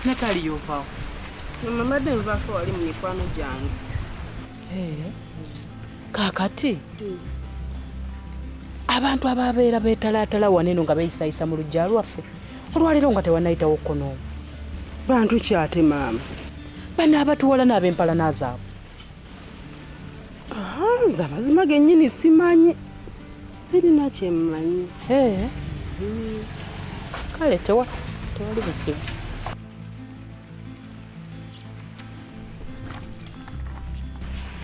Natali yovaawo. Mama madde nvaako wali mu mikwano gyange. Eh. Kaakati. Hmm. abantu ababeera betalaatala waneno nga beyisayisa mu lujja lwaffe olwaleero nga tewanayitawo kono bantu kyate maama bano abatuwala n'abempalana zaabwe nze amazima gennyini simanyi sirina kyemmanyi eh. hmm. kale tewali buzibu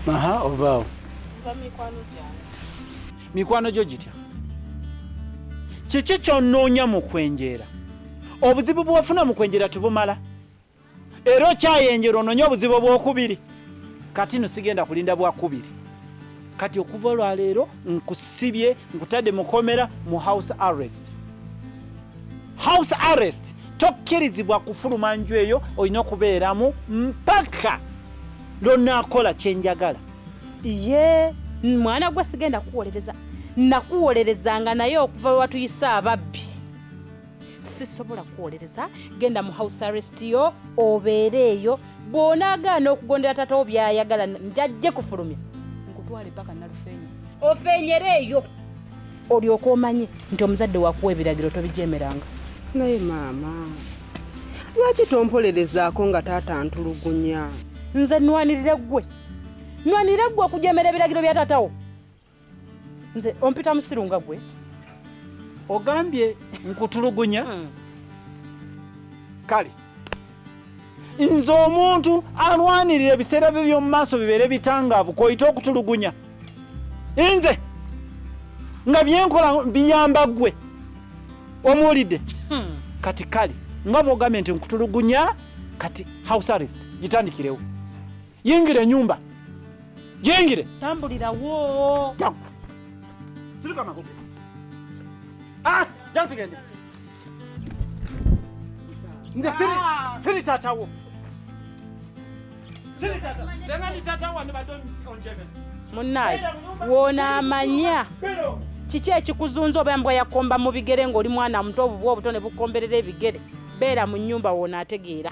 aha ovaawo mikwano gyo gitya kiki kyonoonya mu kwenjeera obuzibu bwofuna mu kwenjeera tebumala era okyayenjera ononye obuzibu obwokubiri kati no sigenda kulinda bwakubiri kati okuva olwaleero nkusibye nkutadde mukomera mu house arrest house arrest tokkirizibwa kufuluma nju eyo olina okubeeramu mpaka lwonaakola kyenjagala ye mwana gwe sigenda kuwolereza nakuwolerezanga naye okuva lwewatuyise ababbi sisobola kuwolereza genda mu house arrest yo obeereeyo bw'onaagaana okugondera taata wo by'ayagala njajje kufulumya nkutwale paka nalufeenya ofeenyereeyo olyoka omanyi nti omuzadde wakuwa ebiragiro tobijemeranga naye maama lwaki tompolerezaako nga taata ntulugunya nze nwanirire ggwe nwanirire ggwe okujemera ebiragiro bya taatawo nze ompita musiru nga gwe ogambye nkutulugunya hmm. kale nze omuntu alwanirira ebiseera bye by'omu maaso bibeere bitangaavu koyite okutulugunya nze nga byenkola biyamba ggwe omuwulidde hmm. kati kale nga bwogambye nti nkutulugunya kati house arrest gitandikirewo Yingira enyumba. Yingire. Tambulira wo. Sirika makope. Ah, jana tugende. Nze siri ah. siri tata wo. Siri tata. Sema ni tata wa ni badon onjebe. Munayi, wona amanya. Bero. Kiki ekikuzunza oba mbwa yakomba mu bigere ng'oli mwana muto obubwa obuto ne bukomberera ebigere beera mu nnyumba woono ategeera